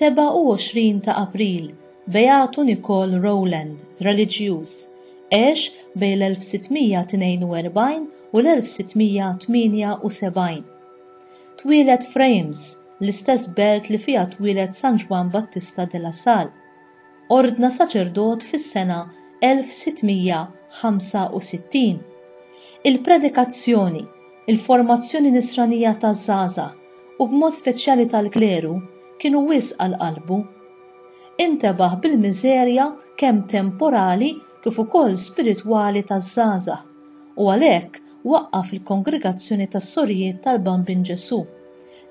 27 ta' April, Beatu Nikol Rowland, reliġjuż, għex bejn l-1642 u l-1678. Twieled f'Reims, l-istess belt li fiha twieled San Ġwann Battista de la Salle. ordna saċerdot fis-sena 1665. Il-predikazzjoni, il-formazzjoni nisranija taż-żgħażagħ, u b'mod speċjali tal-kleru, kienu wisq għal qalbu. Intebaħ bil-miżerja kemm temporali kif ukoll spiritwali taż-żgħażagħ, u għalhekk waqqaf il-Kongregazzjoni tas-Sorijiet tal-Bambin Ġesù,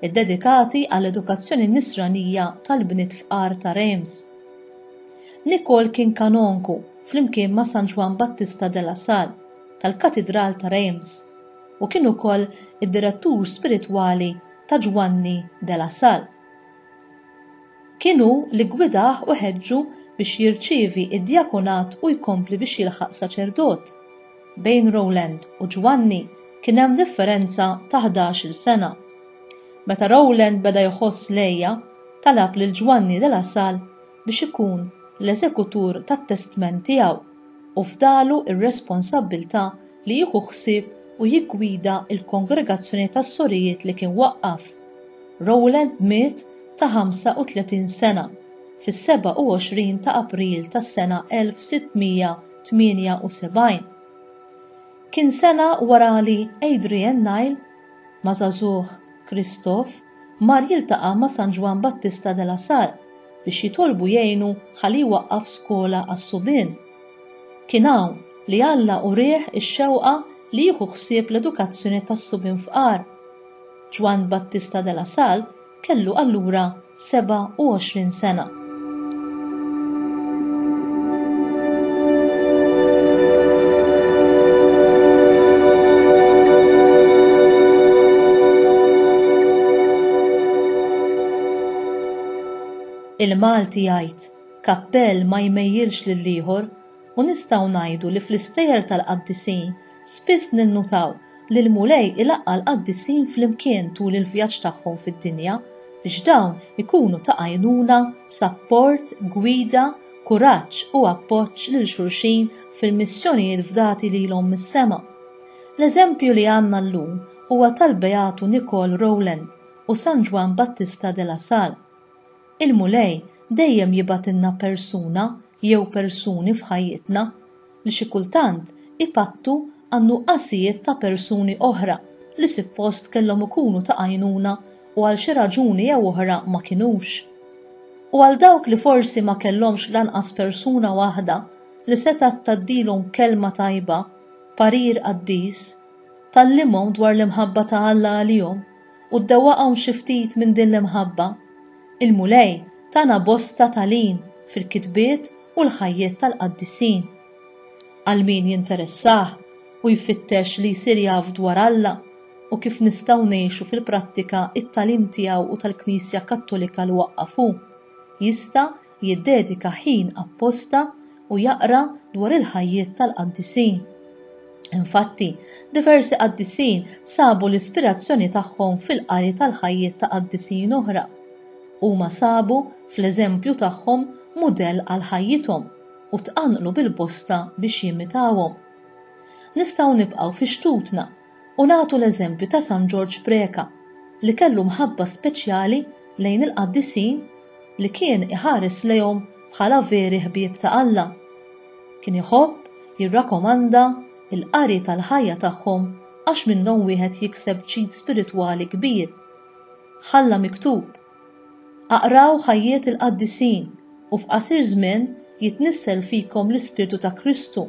iddedikati għall-edukazzjoni Nisranija tal-bniet fqar ta' Reims. Nicole kien kanonku flimkien ma' San Ġwann Battista de la Salle tal-Katidral ta' Reims u kien ukoll id-direttur spiritwali ta' Ġwanni de la Salle. Kien hu li ggwidah u ħeġġu biex jirċievi d-djakonat u jkompli biex jilħaq saċerdot. Bejn Rowland u Ġwanni kien hemm differenza ta' ħdax-il sena. Meta Rowland beda jħoss l-għeja, talab lil Ġwanni de la Salle biex ikun l-eżekutur tat-testment tiegħu u fdalu r-responsabbiltà li jieħu ħsieb u jiggwida l-kongregazzjoni tas-sorijiet li kien waqqaf. Rowland miet ta' 35 sena fis-27 ta' April tas-sena 1600. 78. Kien sena wara li Adrian Nile ma' żagħżugħ Christophe mar jiltaqa' ma' San Ġwann Battista de la Salle biex jitolbu jgħinu ħalli jwaqqaf skola għas-subien. Kien hawn li Alla urieh ix-xewqa li jieħu ħsieb l-edukazzjoni tas-subien fqar. Ġwann Battista de la Salle kellu allura 27 sena. Il-Malti jgħid kappell ma jmejjilx lil ieħor u nistgħu ngħidu li fl-istejjer tal-qaddisin Spiss ninnutaw li l-Mulej ilaqqa' l-qaddisin flimkien tul il-vjaġġ tagħhom fid-dinja biex dawn ikunu ta' għajnuna, sapport, gwida, kuraġġ u appoġġ lil xulxin fil-missjonijiet fdati lilhom mis-sema. L-eżempju li għandna llum huwa tal-Beatu Nicole Rowland u San Ġwann Battista de la Salle. Il-Mulej dejjem jibgħatilna persuna jew persuni f'ħajjitna li xi kultant ipattu għan-nuqqasijiet ta' persuni oħra li sippost kellhom ikunu ta' għajnuna u għal xi raġuni jew oħra ma kinux. U għal dawk li forsi ma kellhomx lanqas persuna waħda li setgħet tgħaddilhom kelma tajba, parir qaddis, tgħallimhom dwar l-imħabba ta' Alla għalihom, u ddewwaqhom xi ftit minn din l-imħabba. Il-Mulej tana bosta tagħlim fil-kitbiet u l-ħajjiet tal-qaddisin. Għal min jinteressah u jfittex li jsir jaf dwar Alla u kif nistgħu ngħixu fil-prattika t-tagħlim tiegħu u tal-Knisja Kattolika li waqqaf hu, jista' jiddedika ħin apposta u jaqra dwar il-ħajjiet tal-qaddisin. Infatti, diversi qaddisin sabu l-ispirazzjoni tagħhom fil-qari tal-ħajjiet ta' qaddisin oħra. Huma sabu fl-eżempju tagħhom mudell għal ħajjithom u tqanqlu bil-bosta biex jimitawhom. Nistgħu nibqgħu fi xtutna U nagħtu l-eżempju ta' San Ġorġ Preca li kellu mħabba speċjali lejn il-qaddisin li kien iħares lejhom bħala veri ħbieb ta' Alla. Kien iħobb jirrakomanda l-qari tal-ħajja tagħhom għax minnhom wieħed jikseb ġid spiritwali kbir. Ħalla miktub Aqraw ħajjiet il-qaddisin u f'qasir żmien jitnissel fikom l-Ispirtu ta' Kristu.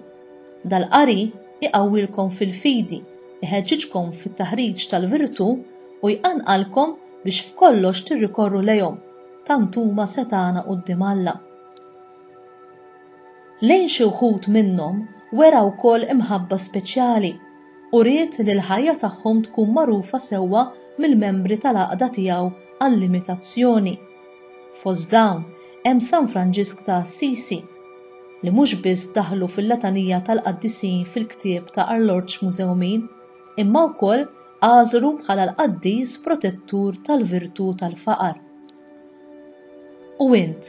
Dal-qari jqawwilkom fil-fidi, iħeġġiġkom fit-taħriġ tal-virtù u jqanqalkom biex f'kollox tirrikorru lejhom, tant huma setgħana quddiem Alla. Lejn xi wħud minnhom wera wkoll imħabba speċjali, u ried li l-ħajja tagħhom tkun magħrufa sewwa mill-membri tal-għaqda tiegħu għall-imitazzjoni. Fost dawn hemm San Franġisk ta' Assisi, li mhux biss daħlu fil-letanija tal-qaddisin fil-ktieb ta' Arloġġ Mużewmin, imma wkoll għażlu bħala l-qaddis protettur tal-virtù tal-faqar. U int,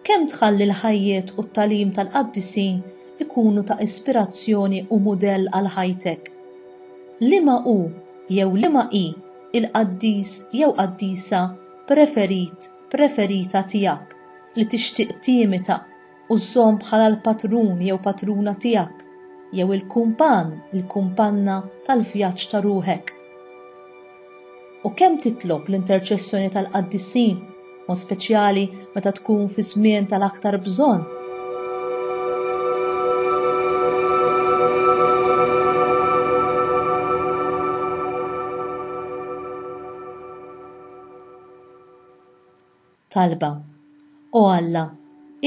kemm tħalli l-ħajjiet u t-tagħlim tal-qaddisin ikunu ta' ispirazzjoni u mudell għal ħajtek? Liema hu jew liema hi l-qaddis jew qaddisa preferit, preferita tiegħek li tixtieq timita? u żżomm bħala l-patrun jew patruna tiegħek, jew il-kumpann, il-kumpanna tal-vjaġġ ta' ruħek. U kemm titlob l-interċessjoni tal-qaddisin, mod speċjali meta tkun fi żmien tal-aktar bżonn. Talba, O Alla,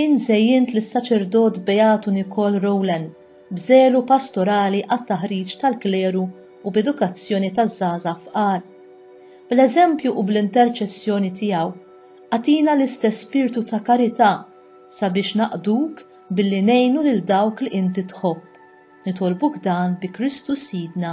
int żejjint lis-Saċerdot Beatu Nicole Rowland b'żelu pastorali għat-taħriġ tal-kleru u b'edukazzjoni taż-żgħażagħ fqar. Bl-eżempju u bl-interċessjoni tiegħu, agħtina l-istess spirtu ta' karità sabiex naqduk billi ngħinu lil dawk li inti tħobb. Nitolbuk dan bi Kristu Sidna.